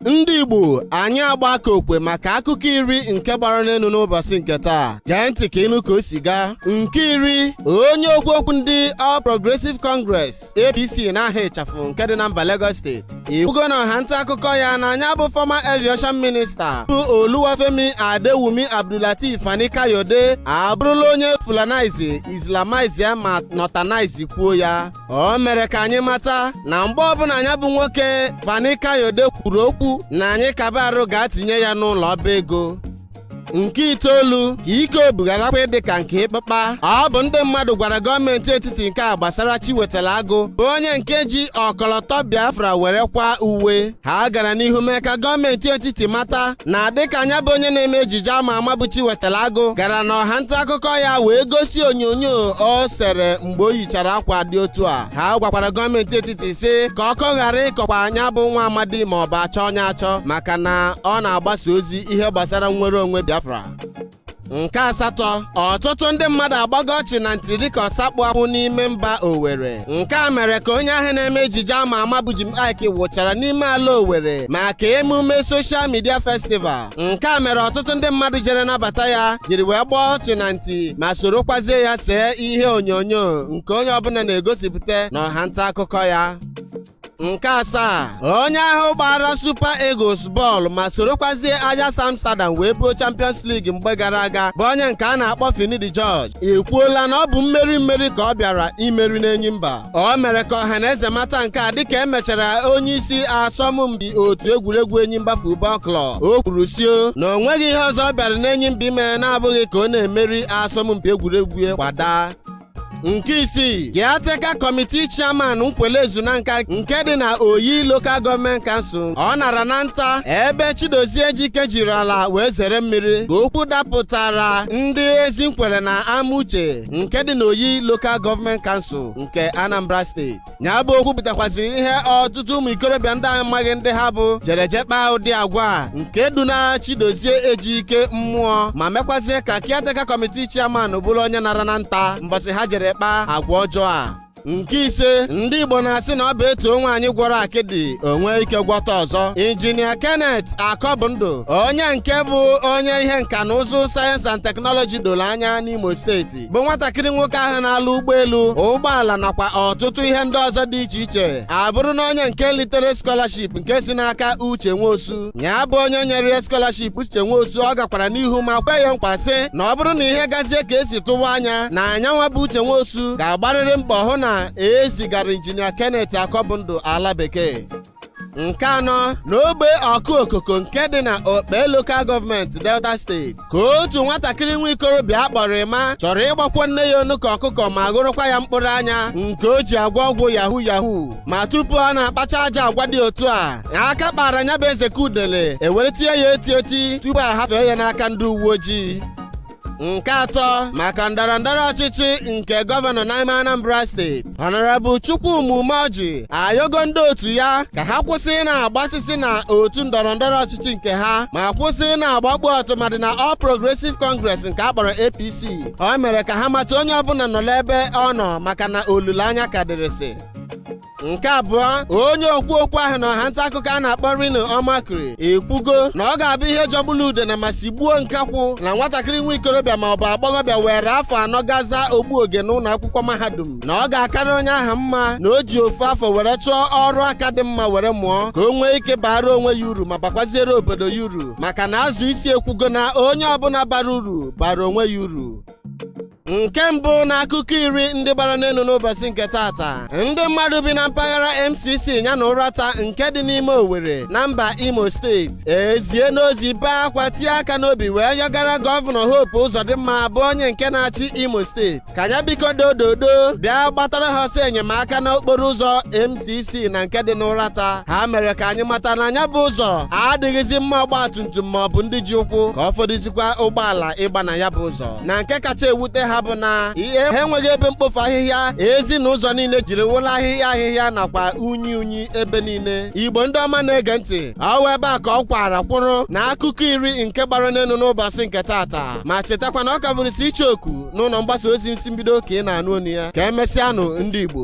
ndị igbo anyị agba aka okwe maka akụkọ iri nke gbara n'elu n'ụbọchị nke taa gee ntị ka ịnụ ka o si gaa nke iri onye okwu okwu ndị All Progressive Congress APC n'aha ịchafụ nke dị na mba Lagos steeti ekwugo na ọha nta akụkọ ya na nya bụ former aviation minister bụ Oluwafemi Adewumi Abdulateef Fani Kayode abụrụla onye fulanize islamize ya ma northernize kwuo ya o mere ka anyị mata na mgbe ọbụla nya bụ nwoke Fani Kayode kwuru okwu na anyị kaba arụ ga-atinye ya n'ụlọ ọba ego nke itoolu ka ike obu gharakwa ịdị ka nke ịkpakpa ọ bụ ndị mmadụ gwara gọọmenti etiti nke a gbasara Chiwetalu Agụ bụ onye nke ji ọkọlọtọ Biafra were kwa uwe ha gara n'ihu mee ka gọọmenti etiti mata na dịka nya bụ onye na-eme ejije ama ama bụ Chiwetalu Agụ gara n'ọha nta akụkọ ya wee gosi onyonyo o sere mgbe o yichara akwa dị otu a ha gwakwara gọọmenti etiti sị ka ọkọ ghara ịkọkwa nya bụ nwa amadi ma ọ bụ a chọọ nya achọ maka na ọ na-agbasa ozi ihe gbasara nnwere onwe Biafra nke asatọ ọtụtụ ndị mmadụ agbago ọchị na nti dịka ọsa kpụ akwụ n'ime mba Owerri nke a mere ka onye ahụ na-eme ejije ama ama bụ Jim Iyke wụchara n'ime ala Owerri maka emume social media festival nke a mere ọtụtụ ndị mmadụ jere nabata ya jiri wee gbaa ọchị na nti ma sorokwazie ya see ihe onyonyo nke onye ọbụla na-egosipụta na ọha nta akụkọ ya nke asaa onye ahụ gbaara Super Eagles bọọlụ ma sorokwazie Ajax Amsterdam wee buo Champions League mgbe gara aga bụ onye nke a na-akpọ Finidi George ekwuola na ọ bụ mmeri mmeri ka ọ bịara imeri n'Enyimba o mere ka ọha na eze mata nke a dịka e mechara onye isi asọmpi otu egwuregwu Enyimba Football Club o kwuru sio na o nweghị ihe ọzọ ọ bịara n'Enyimba ime na-abụghị ka ọ na-emeri asọmpi egwuregwu ya kwadaa nke isii Caretaker Committee Chairman Nkwelle Ezunaka nke dị na Oyi Local Government Council ọ nara na nta ebe Chidozie Ejike jiri ala wee zere mmiri ka okwu dapụtara ndị Ezinkwelle na Amuche nke dị na Oyi Local Government Council nke Anambra Steeti nya bụ okwu pụtakwaziri ihe ọtụtụ ụmụ ikorobịa ndị a maghị ndị ha bụ jere je kpaa ụdị agwa a nke dunara chidozie ejike mmụọ ma mekwazie ka caretaker committee chairman bụrụ onye nara na nta mbọsị ha jere kpaa agwa ọjọọ a nke ise ndị igbo na-asị na ọ bụ e too nwanyị gwọrọ akịdị o nwee ike gwọta ọzọ injinia kenneth akọbụndụ onye nke bụ onye ihe nka na ụzụ science and technology doro anya n'imo steeti bụ nwatakịrị nwoke ahụ na-alụ ụgbọelu ụgbọala nakwa ọtụtụ ihe ndị ọzọ dị iche iche abụrụna onye nke litere scholarship nke si n'aka uche nwosu nya bụ onye nyere ya scholarship uche nwosu ọ gakwara n'ihu ma kwe ya nkwa sị na ọ bụrụ na ihe gazie ka e si tụwa anya na nyanwa bụ uche nwosu ga-agbarịrị mbọ hụ na e zigara injinia kenneth akọbụndụ ala bekee nke anọ n'ogbe Okuokoko nke dị na okpe lokal gọọmenti delta steeti ka otu nwatakịrị nwa ikorobịa a kpọrọ Emma chọrọ ịgbakwo nne ya onu ka ọkụkọ ma ghụrụkwa ya mkpụrụ anya nke o ji agwọ ọgwụ Yahoo Yahoo ma tupu ọ na-akpacha ajọ agwa dị otu a aka kpara nya bụ ezeke udele e were tie ya eti eti tupu a hafee ya n'aka ndị uwe ojii nke atọ maka ndọrọ ndọrọ ọchịchị nke gọvanọ n'ime Anambra steeti Honorable Chukwuma Umeoji ayọgo ndị otu ya ka ha kwụsị ịna-agbasịsị na otu ndọrọ ndọrọ ọchịchị nke ha ma kwụsị ịna-agbakpu ọtụmadị na All Progressive Congress nke a kpọrọ APC o mere ka ha mata onye ọbụla nọrọ ebe ọ nọ maka na olileanya ka dịrịsị nke abụọ onye okwu okwu ahụ na ọha nta akụkọ a na-akpọ Reno Omokri ekwugo na ọ ga-abụ ihe jọgburu udene ma sigbuo nkakwụ na nwatakịrị nwa ikorobịa ma ọ bụ agbọghọbịa were afọ anọ gaa zaa ogbu oge n'ụlọ akwụkwọ mahadum na ọ ga-akarị onye ahụ mma na o ji ofu afọ were chọọ ọrụ aka dị mma were mụọ ka o nwee ike baara onwe ya uru ma bakwaziere obodo ya uru maka na azụ isi ekwugo na onye ọbụla bara uru baara onwe ya uru nke mbụ na akụkọ iri ndị gbara n'elu n'ụbọchị nke taata ndị mmadụ bi na mpaghara MCC ya na Uratta nke dị n'ime Owerri na mba Imo steeti eziena ozi bee akwa tie aka n'obi wee yọgara gọvanọ Hope Uzodimma bụ onye nke na-achị Imo steeti ka ya biko dododo bịa gbatara ha ọsọ enyemaka n'okporo ụzọ MCC na nke dị n'Uratta ha mere ka anyị mata na ya bụ ụzọ adịghịzi mma ọgbatumtum ma ọ bụ ndị ji ụkwụ ka ọ fọdụzikwa ụgbọala ịgba na ya bụ ụzọ na nke kacha ewute ha bụ na ihe ha enweghị ebe mkpofu ahịhịa ezi na ụzọ niile jiri wụrụ ahịhịa ahịhịa nakwa unyi unyi ebe niile igbo ndị ọma na-ege ntị ọ wụ ebe a ka ọ kwara kwụrụ na akụkọ iri nke gbara n'elu n'ụbọchị nke taata ma chetakwa na ọ ka bụrịsị Icheoku n'ụlọ mgbasa ozi Isi Mbido ka ị na-anụ onu ya ka e mesịanụ ndị igbo